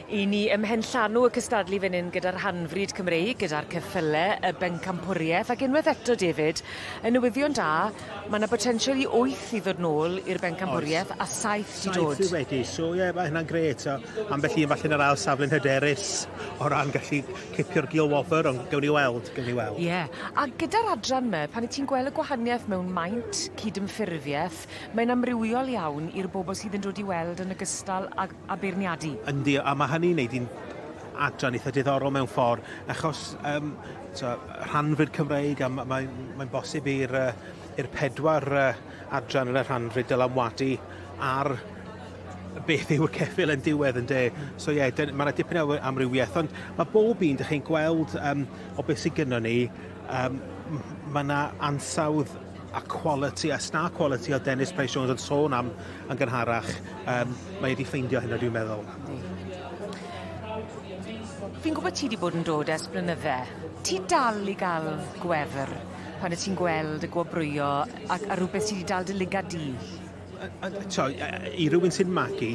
I ni ymhenllanw y cystadlu fan hyn gyda'r hanfryd Cymreig, gyda'r ceffyle, y bencampwriaeth ac unwaith eto, David, yn newyddion da, mae yna botensial i wyth i ddod nôl i'r bencampwriaeth a saith i dod. Saith wedi, so ie, yeah, mae hynna'n gret. So, ambell un falle yn yr ail safle'n hyderus o ran gallu cipio'r gil wobr, ond gawn ni weld, gawn ni weld. Ie, yeah. a gyda'r adran yma, pan i ti'n gweld y gwahaniaeth mewn maint, cydymffurfiaeth, Mae'n amrywiol iawn i'r bobl sydd yn dod i weld yn ogystal ag a beirniadu. Yndi, a ma' hynny'n neud i'n adran eitha diddorol mewn ffor' achos yym t'o' rhanfrid Cymreig a ma' mae'n mae'n bosib i'r yy i'r pedwar yy adran yn y rhanfrid dylanwadu ar beth yw'r ceffyl yn diwedd ynde? So ie dyn- ma' 'na dipyn o amrywieth ond ma' bob un dych chi'n gweld yym o beth sy gynnon ni yym m- ma' 'na ansawdd a quality, a star quality oedd Dennis Price Jones yn sôn am yn gynharach, um, mae wedi ffeindio hynna dwi'n meddwl. Fi'n gwybod ti wedi bod yn dod ers blynydde. Ti dal i gael gwefr pan y ti'n gweld y gwobrwyo ac a rhywbeth sydd wedi dal dy liga di? So, I rywun sy'n magu,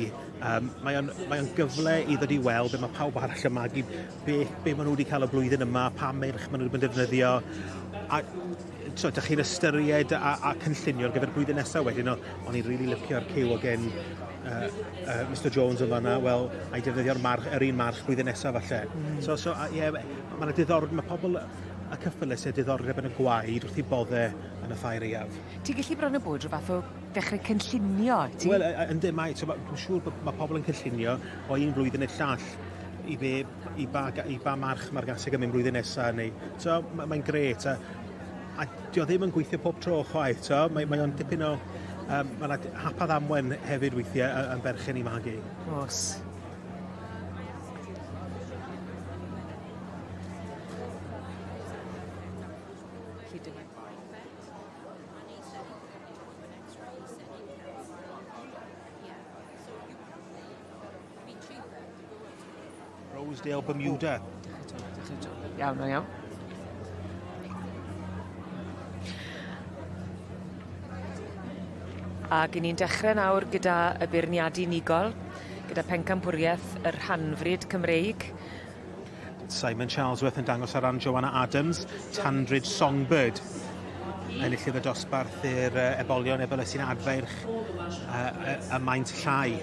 um, mae o'n mae gyfle i ddod i weld be mae pawb arall yn magu. be, be maen nhw wedi cael y blwyddyn yma, pa merch maen nhw wedi defnyddio, a so, da chi'n ystyried a, a cynllunio ar gyfer blwyddyn nesaf wedyn, o'n i'n rili really lyfio'r cyw o gen uh, uh, Mr Jones yn fanna, wel, a'i defnyddio'r march, yr un march blwyddyn nesaf falle. Mm. So, so, ie, yeah, mae'n diddorol, mae pobl y cyffylus a diddordeb yn y gwaed wrth i bodde yn y ffair eiaf. Ti'n gallu bron o bod rhywbeth o dechrau cynllunio, ti? Wel, ynddo, mae, so, dwi'n siŵr bod mae pobl yn cynllunio o un flwyddyn i'r llall i be, i ba, i ba march mae'r gaseg yn mynd blwyddyn nesaf, neu, so, mae'n mae gret, a, a di o ddim yn gweithio pob tro chwaith, so, mae, mae o'n dipyn o, um, mae yna hapad amwen hefyd weithiau yn berchen i magu. Os. Rosedale, Bermuda. Iawn, iawn. Ac i ni'n dechrau nawr gyda y beirniadu unigol, gyda pencampwriaeth y rhanfryd Cymreig, Simon Charlesworth yn dangos ar ran Joanna Adams, Tandridge Songbird. Enillydd y dosbarth i'r uh, ebolion efo sy'n adferch uh, y, y maint llai.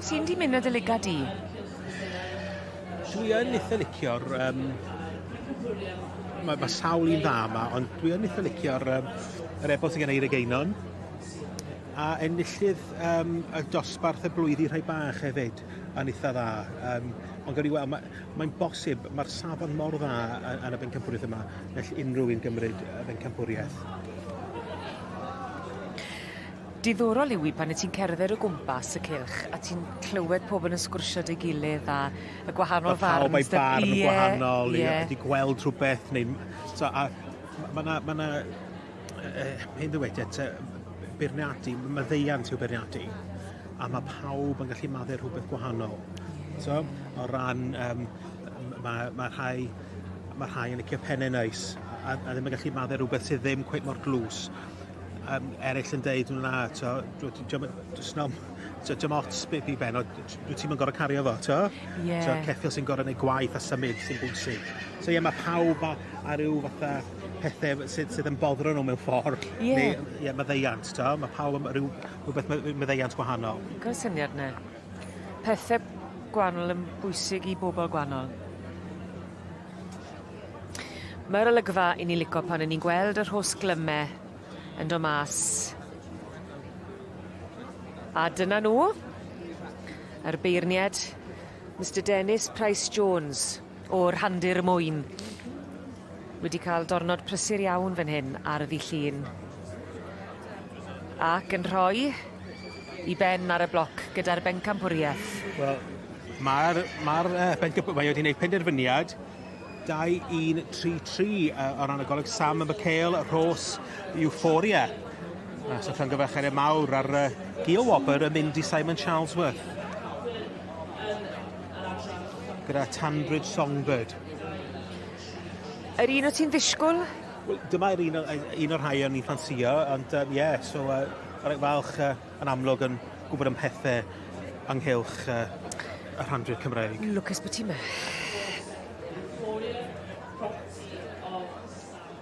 Sy'n di mynd y liga di? Dwi yn eitha licio'r... Um, mae ma sawl un dda yma, ond dwi yn eitha licio'r um, yr ebol sy'n gen i Einog Einon. A enillydd um, y dosbarth y blwyddi rhai bach hefyd yn eitha dda. Um, ond gawn ni weld, mae'n mae bosib, mae'r safon mor dda yn y bencampwriaeth yma, gall unrhyw un gymryd y bencampwriaeth. Diddorol yw i pan y ti'n cerdded o gwmpas y cylch a ti'n clywed pobl yn sgwrsio dy gilydd a y gwahanol farn. Mae pawb ei farn yn gwahanol, ie. Yeah. Wedi gweld rhywbeth neu... So, a, mae yna ma Hyn dywed at beirniadu, maddeuant yw beirniadu, a mae pawb yn gallu maddau rhywbeth gwahanol. So, o ran, um, mae, mae rhai mae rhai yn licio pennau neis a, a ddim yn gallu maddau rhywbeth sydd ddim cweith mor glws. Um, eraill yn deud, na, to, just nom, to, dim ots beth i ben, dwi ti'n gorau cario fo, to? Yeah. So, ceffil sy'n gorau gwneud gwaith a symud sy'n bwysig. So, ie, yeah, mae pawb a, a rhyw fatha pethau sydd, sydd yn boddro nhw mewn ffordd. Ie. Yeah. Neu, ie, yeah, maddeiant, ta. Mae pawb yn rhyw, rhywbeth maddeiant gwahanol. Cael syniad na. Pethau gwahanol yn bwysig i bobl gwahanol. Mae'r olygfa i ni lico pan yn ni'n gweld yr hos glymau yn do mas. A dyna nhw, yr beirniad, Mr Dennis Price Jones. o Rhandir Mwyn. Wedi cael dornod prysur iawn fan hyn ar y ddi llun. Ac yn rhoi i ben ar y bloc gyda'r bencampwriaeth. Wel, mae'r ma uh, bencampwriaeth mae wedi gwneud penderfyniad 2-1-3-3 uh, o ran y goleg Sam y Michael Rhos Euphoria. Mas o llongyfarchiadau mawr ar uh, Gio Wobr yn mynd i Simon Charlesworth. Gyda Tanbridge Songbird. Yr un o ti'n ddisgwyl? Wel, dyma'r un, un o'r rhai o'n i'n ffansio, ond ie, um, yeah, so uh, rhaid falch uh, yn amlwg yn gwybod am pethau ynghylch uh, y rhandrwydd Cymraeg. Lwcus bod ti'n mynd.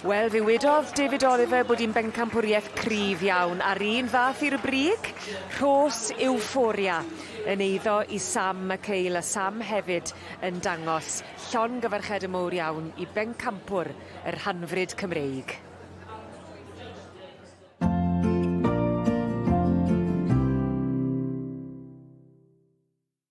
Wel, fe wedodd David Oliver bod hi'n bencampwriaeth cryf iawn, a'r un fath i'r brig, rhos euphoria yn eiddo i Sam McHale, a Sam hefyd yn dangos llongyfarched yn mowr iawn i bencampwr y rhanfryd Cymreig.